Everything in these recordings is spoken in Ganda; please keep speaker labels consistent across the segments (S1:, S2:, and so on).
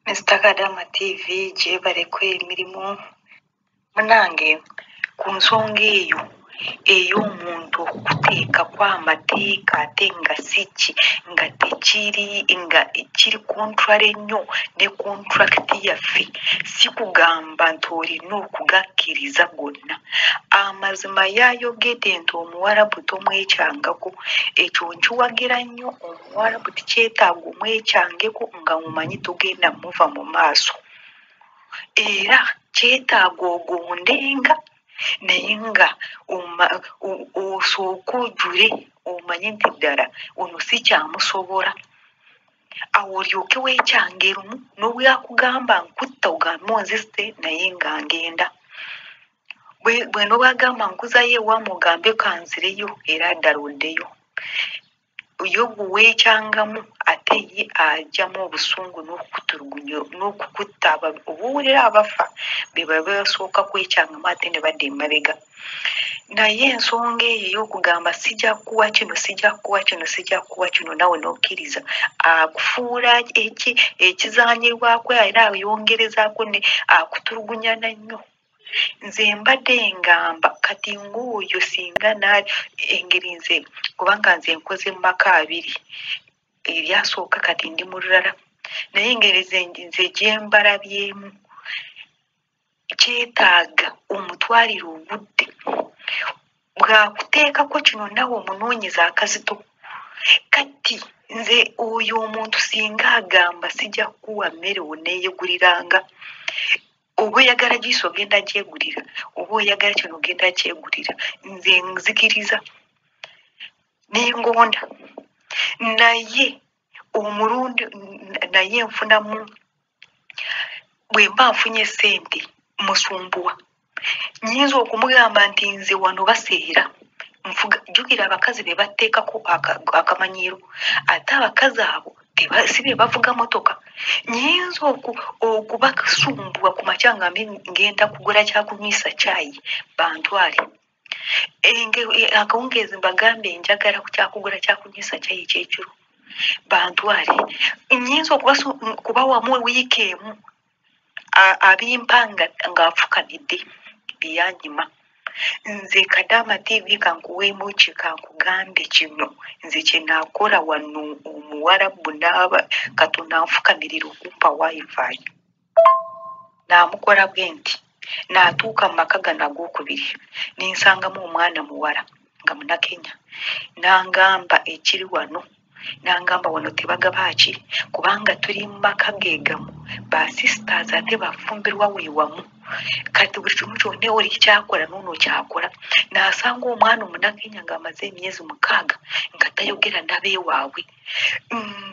S1: Mr. Kadama TV gyebaleko emirimu munange ku nsonga eyo ey'omuntu okuteekako amateeka ate nga si ki nga tekiri nga kiri contrary nnyo ne contract yaffe si kugamba nti olina okugakkiriza gonna amazima yayogedde nti omuwarabu tomwekyangako ekyo nkiwagira nnyo Warabu tikyetaaga omwekyangeko nga omumanyi togenda muva mu maaso era kyetaaga ogondenga naye nga osooke ojule omanye nti ddala ono sikyamusobola awo olyoke wekyange lumu nobwakugamba nkutta ogambe onziste naye nga ngenda bweno bwagamba nkuzayo ewamu ogambe kanzireyo era ddala oddeyo yo guweekyangamu ate ye ajamu obusungu n'okukutulugunya n'okukutta aba obuwulira abafa be baba basooka kwekyangamu ate ne badda emabega naye ensonga eyo ey'okugamba sija kuwa kino sija kuwa kino sija kuwa kino nawe n'okkiriza akufuula eki- ekizaanyirwako era ayongerezaako ne akutulugunyana nnyo nze mbadde ngamba kati ng'oyo singa engeri nze kubanga nze nkoze mu maka abiri eryasooka kati ndi mu lulala naye engeri nze gyembalabyemu kyetaaga omutwalire obudde bwakuteekako kino nawe omunoonyeza akazito kati nze oyo omuntu singa agamba sijja kukuwa mmere oneeyeguliranga oba oyagala jiisi ogenda gyegulira oba oyagala kino ogenda kyegulira nze nzikiriza nengonda naye omulundi naye nfunamu bwe mba nfunye sente musumbuwa nyinza okumugamba nti nze wano baseera nfuga jukira abakazi be batteekako akamanyiiro ate abakazi abo Teba- si be bavuga motoka nyinza oku- okubasumbua ku makya nga mbe- ngenda kugula kyakunywisa kyayi bantwale Enge- e- akawungeezi mbagambe njagala ku kyakugula kyakunywisa kyayi ekyekiro bantwale nyinza okubasu- kubawamu wiiki emu A- abimpa nga ng'afukamidde byanyima nze kadaama tv kankuweemu ki kankugambe kino nze kyenaakola wano omuwarabu naaba katonda anfukamirira okumpa wifi naamukola bwe nti naatuuka mu maka gano ag'okubiri nensangamu omwana muwala nga munakenya nangamba ekiri wano nangamba wano tebagabaaki kubanga tuli mumaka gegamu ba sisters ate bafumbirwa wewamu kati buli kimu kyonna oli kyakola noono kyakola nasanga omwana omunakenya nga amaze emyezi mukaaga nga tayogera nabewaabwe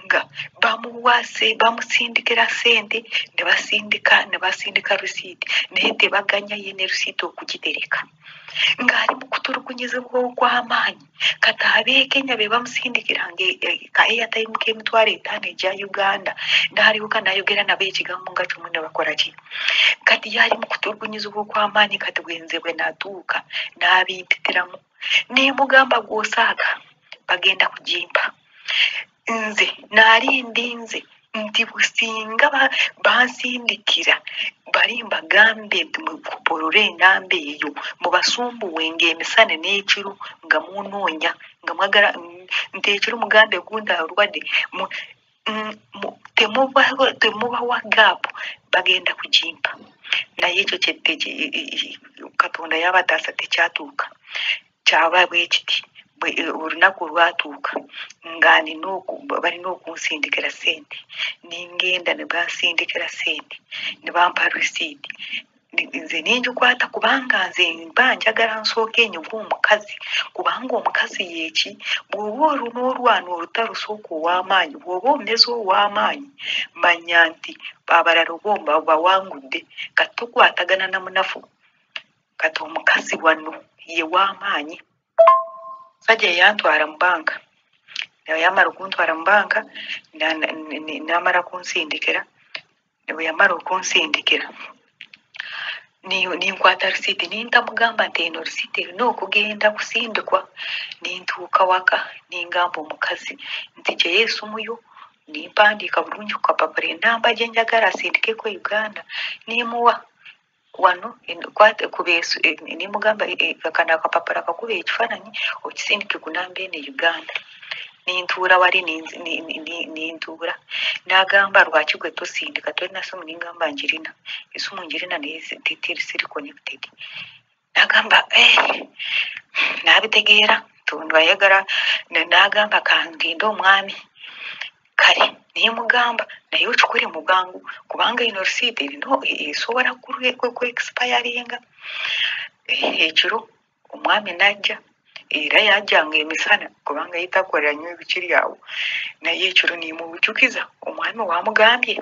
S1: nga bamuwase bamusindikira sente nebasindika nebasindika risiiti naye tebaganya ye ne risiiti okugitereka ng'ali mu kutulugunyizibwa okw'amaanyi kati abekenya bebamusindikiranga e- e- ka airtime k'emitwalo etaano egya uganda n'alyoka n'ayogera nabo ekigambo nga kimu ne bakola ki kati yali mu kutulugunyizibwa okw'amaanyi kati bwenze bwe natuuka n'abimpitiramu ne mugamba gw'osaaga bagenda kugimpa nze naali ndinze nti businga bansindikira bali mbagambe nti mupolole enamba eyo mubasumbuwe ngaemisana n'ekiro nga munoonya nga mwagala nti ekiro mugambe gunda alwadde mm, temubawa gaapu bagenda kugimpa naye ekyo katonda yabataasa tekyatuuka kyaba bwe kiti bwe- eh, olunaku olwatuuka nga nina oku- balina okunsindikira sente nengenda ne bansindikira sente ne bampa risiiti Ni- nze nengikwata kubanga nze mba njagala nsooke enyuga omukazi kubanga omukazi yeeki bw'oba olu n'olwana olutalo sooka ow'amaanyi bw'oba omeze ow'amaanyi manya nti abalala oba oba- bawangudde kati tokwatagana na munafu kati omukazi wano ye w'amaanyi musajja yeyantwala mu banka naye yamala okuntwala mu banka na- na- ne- ne- n'amala kunsindikira Ne bwe yamala okunsindikira ni- ninkwata risiiti nintamugamba nti eno risiiti erina okugenda kusindikwa nintuuka waka ningamba omukazi nti gyeyo esimu yo nimpandiika bulungi ku kapapula enamba gye njagala asindikeko e uganda nimuwa wano nemugamba e, e, kano akapapula kakuba ekifaananyi okisindike ku namba eno e uganda nentuula wali nentuula nagamba lwaki gwe tosindika tolina simu nengamba njirina esimu njirina naye siri connected nagamba eh, nabitegeera tundu ayagala na- nagamba kangende omwami kale naye mugamba naye okikole mu bwangu kubanga ino receipt erina esobola kuexpiringa ekiro omwami najja era yajjanga emisana kubanga yitakolera nnyo ebikiri awo naye ekiro nemubujukiza omwami wamugambye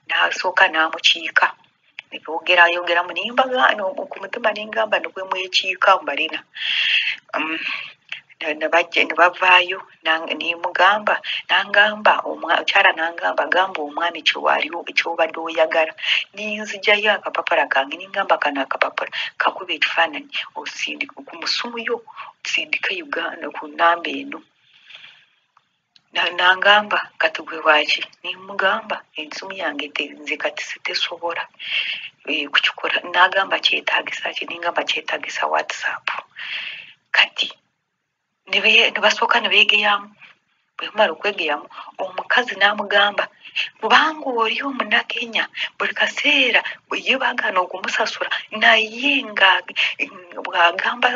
S1: nasooka namukiika yogera yogeramu naye mbagaana ku mutima ne ngamba ne bwe mwekiika mbalina Um, ne- ne bajja- ne bavaayo nang- ne mugamba nangamba omwa- omukyala nangamba gamba omwami kyewaliwo kyobadde oyagala ninzijayo akapapala kange ningamba kano akapapala kakuba ekifaananyi osindika ku musumu yo sindika uganda ku namba eno nangamba kati gwe waaki nemugamba ensimu yange nze kati sitesobola eh, kukikola nagamba kyetagisa ki nengamba kyetagisa whatsapp kati nebasooka nebegeyamu bwemala okwegeyamu omukazi namugamba kubanga oli omunakenya buli kaseera ye bagana okumusasula naye nga bwagamba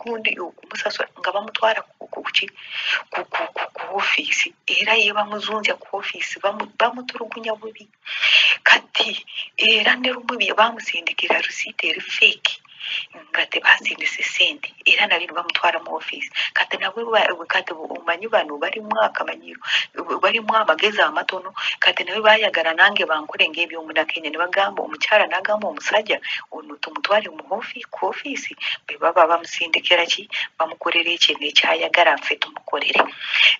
S1: gundi musasula nga bamutwala kuki ku ofiisi era ye bamuzunzya ku ofiisi bamutulugunya bubi kati era ne lumu bye bamusindikira risiiti eri feeki nga tebasindise sente era nabino bamutwala mu ofiisi kati nabwe kati omanyi bano balimu akamanyi balimu amagezi amatono kati nawe bayagala nange bankole ngaebyomudakenya nebagamba omukyala nagamba omusajja ono tumutwale mu ku ofiisi bebaba bamusindikira ki bamukolera ekyo nekyayagala nfe tumukolere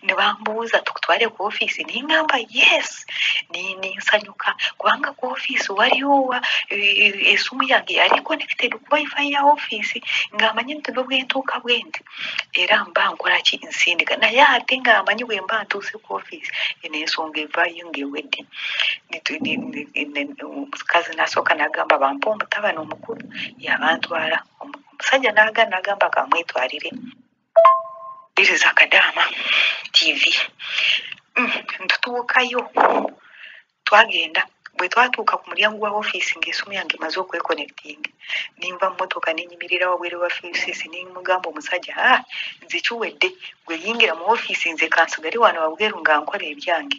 S1: nebambuuza tukutwale ku ofiisi ningamba yes ninsanyuka kubanga ku ofiisi waliowa esimu yange yali connected ku wifi ya ofiisi ngaamanyi nti nobwentuuka bwendi era mba nkola ki nsindika naye ate nga amanyi bwe mba ntuuse ku ofiisi eno ensonga evaayo ngaewedde omukazi nasooka nagamba bampa omutabani omukulu yabantwala omusajja naga nagamba kamwetwalire iriza kadaama tv mm, ntutuukayo twagenda bwe twatuuka ku mulyango wa ofiisi ng'esimu yange emaze okwekonectinga ninva mmotoka nenyimirira wabwere wa ofiisi nemugamba omusajja a ah, nze kiwedde gwe yingira mu ofiisi nze kansigale wano wabweru nga nkola ebyange